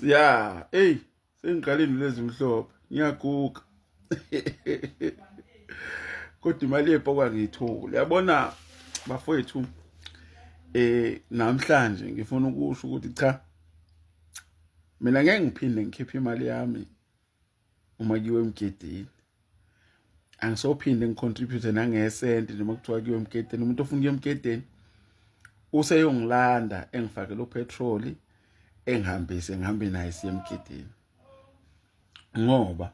ya eyi sengiqale indlu ezimhlophe ngiyaguga kodwa imali yebhokwa ngiyithole yabona bafowethu eh namhlanje ngifuna ukusho ukuthi cha mina ngeke ngiphinde ngikhiphe imali yami uma kiwe emgedeni angisophinde ngicontribute nangesenti noma kuthiwa kiwe emgedeni umuntu ofuna kuye emgedeni useyongilanda engifakele upetrol engihambise ngihambe naye siye emgedeni ngoba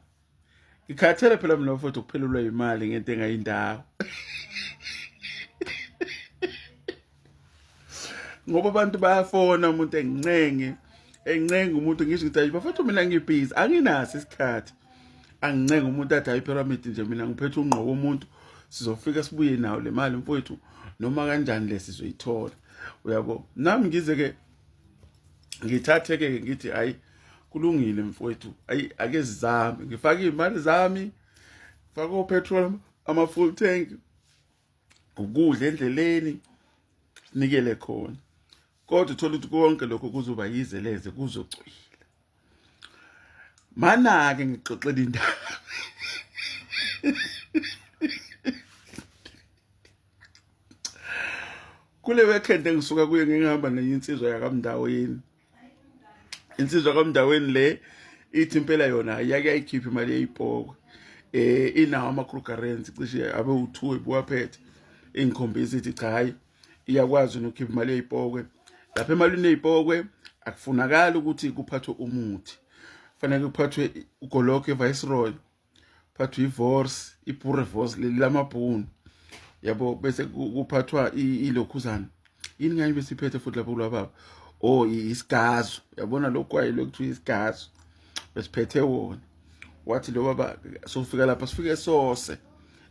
ngikhathele phela mina mfowethu ukuphelelwa imali ngento engayindawo ngoba abantu bayafona umuntu engincenge encenga umuntu ngisho ukuthi bafethu mina ngibhizi anginaso isikhathi angincenga umuntu athi hayi pyramid nje mina ngiphethe ungqoko umuntu sizofika sibuye nawo le mali mfowethu noma kanjani le sizoyithola uyabo nami ngize ke ngithathe ke ngithi hayi kulungile mfowethu ayi ake zizame ngifake imali zami faka upetrol ama full tank ukudla endleleni nikele khona kodwa uthola ukuthi konke lokho kuzoba yizeleze kuzocwila manake ngixoxela indaba kule weekend engisuka kuyo ngingihamba nenye insizwa yakamndaweni insizwa kamndaweni le ithi impela yona yake ayikhiphe imali yeyipoko eh inawo amakrugarensi cishe abe u2 ebuwaphethe ingikhombisa ithi cha hayi iyakwazi nokukhipha imali yeyipokwe lapha emalini yeyipokwe akufunakala ukuthi kuphathwe umuthi fanele kuphathwe ugoloke viceroy phathwa ivorce ipure vorce leli lamabhunu yabo bese kuphathwa ilokhuzana yini ngani besiphethe futhi lapho kulwa baba o oh, isigazo yabona lokhu kwayilo kuthiwa isigazo besiphethe wona wathi lo baba sofika lapha sifike sose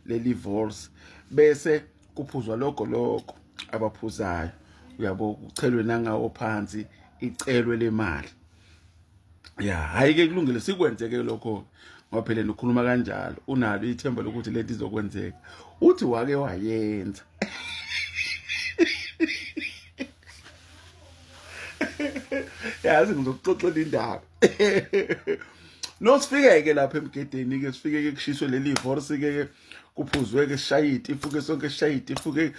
leli vorce bese kuphuzwa lokho lokho abaphuzayo uyabo kuchelwe nangawo phansi icelwe lemali ya hayi ke kulungile sikwenzeke lokho ngoba phela nokhuluma kanjalo unalo ithemba lokuthi lento izokwenzeka uthi wake wayenza yazi ngizokuxoxela indaba nosifike-ke lapha emgedeni-ke sifike-ke kushiswe leli horse-ke kuphuzwe-ke sishaye itifu-ke sonke sishaye itifu-ke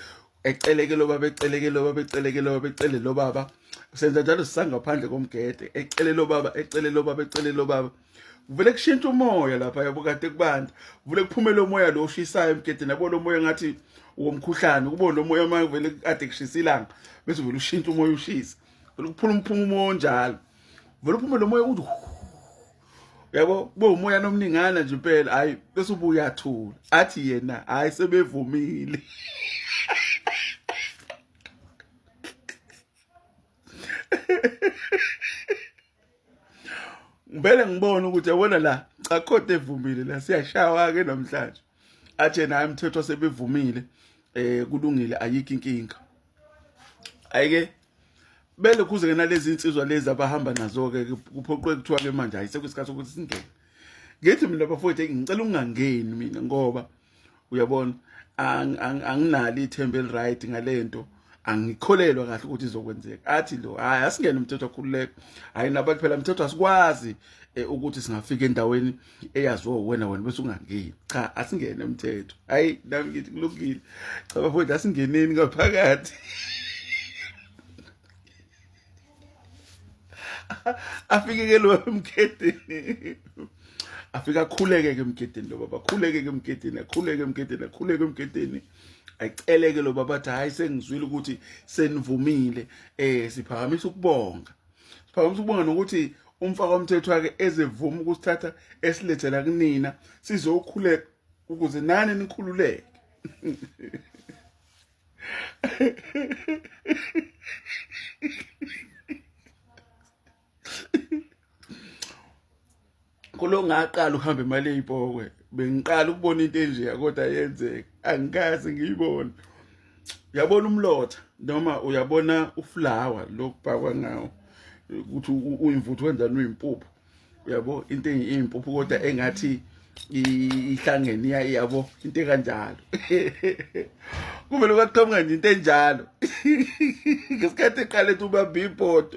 eceleke lo baba eceleke lo baba eceleke lo baba ecele lo baba senza njalo sisangaphandle komgede ecele lo baba ecele lo baba ecele lo baba vele kushintsha umoya lapha yabo kade kubanda vele kuphumela umoya lo oshisayo emgedeni yabo lo moya ngathi womkhuhlane ukubona lo moya manje vele kade kushisa ilanga bese vele ushintsha umoya ushisa vele kuphula umphuma umoya onjalo vele uphumela umoya uthi yabo kube umoya nomningana nje impela hayi bese ubuya athula athi yena hayi sebevumile ngibele ngibone ukuthi yabona la cha khode evumile la siyashawa ke namhlanje athe naye umthetho sebevumile eh kulungile ayikho inkinga ayike bele kuze ke nalezi insizwa lezi abahamba nazo ke kuphoqwe kuthiwa ke manje ayise kwesikhathi ukuthi singene ngithi mina bafowethu ngicela ungangeni mina ngoba uyabona anginali ithemba eliright ngalento angikholelwa kahle ukuthi izokwenzeka athi lo hayi asingene umthetho akhululeka hayi naba kuphela umthetho asikwazi eh, ukuthi singafika endaweni eyazi wo wena wena bese ungangeni cha asingene umthetho hayi nami ngithi kulungile cha bafowethu asingeneni ngaphakathi afike ke lo emgedeni afike akhuleke ke emgedeni lo baba akhuleke ke emgedeni akhuleke emgedeni akhuleke emgedeni ayiceleke lo baba athi hayi sengizwile ukuthi senivumile eh siphakamisa ukubonga Siphakamise ukubonga nokuthi umfaka umthetho wake ezevuma ukusithatha esilethela kunina sizokhuleka ukuze nani nikhululeke khona ngaqala ukuhamba imali eyipokwe bengiqala ukubona into enjeya kodwa yenzeka angikaze ngiyibone uyabona umlotha noma uyabona uflawa lokubhakwa ngawo ukuthi uyimvuthu wenzani uyimpuphu uyabo into eyimpuphu kodwa engathi ihlangene iyabo into ekanjalo kumele kwaqhamuka nje into enjalo ngesikhathi eqale ethi ubamba ibhodo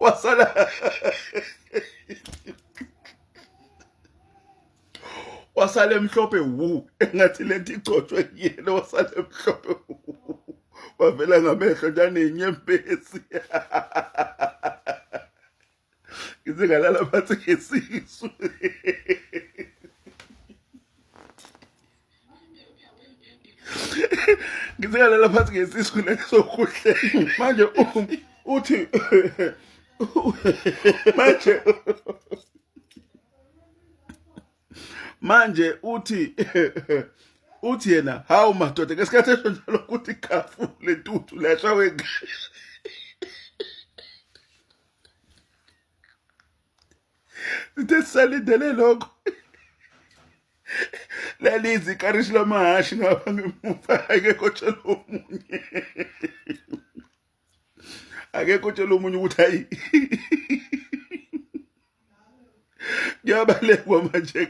wasala wasala emhlophe wu engathi lento igcotshwe kuyena wasala emhlophe wu wavela ngamehlo njanenyembezi ngize ngalala phansi ngesisu ngizikalala phansi ngesisu nesokuhle manje uthi manje manje uthi uthi yena hawu madoda ngesikhathi esho njalo ukuthi khafu lentuthu lashawe sithe sisalindele lokho lalizi ikarishi lamahashi ngapha ngemuva akekho tshela omunye akekho tshela omunye ukuthi hayi kuyabalekwa manje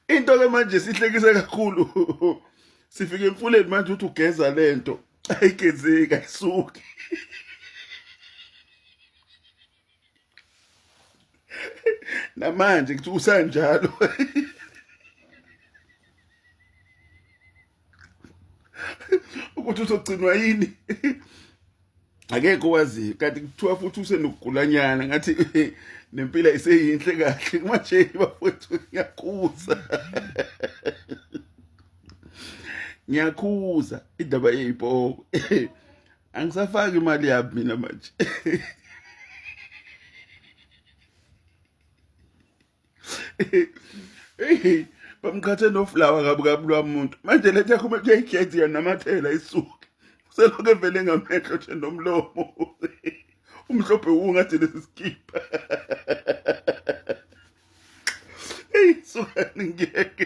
into ke manje sihlekise kakhulu sifike emfuleni manje uthi ugeza lento ayigezeki ayisuki namanje kuthi usanjalo ukuthi uzogcinwa yini akekho waziyo kanti kuthiwa futhi usenokugulanyana ngathi nempila iseyinhle kahle manje bafowethu ngiyakhuza ngiyakhuza indaba yeyipoko angisafaki imali yami mina manje bamqhathe noflawa kabi kabi lwamuntu manje lethi akhume kuyayikhethi yena namathela isuke uselokhu evele ngamehlo nje nomlomo umhlophe wungathi lesi sikipa eyi sukani ngeke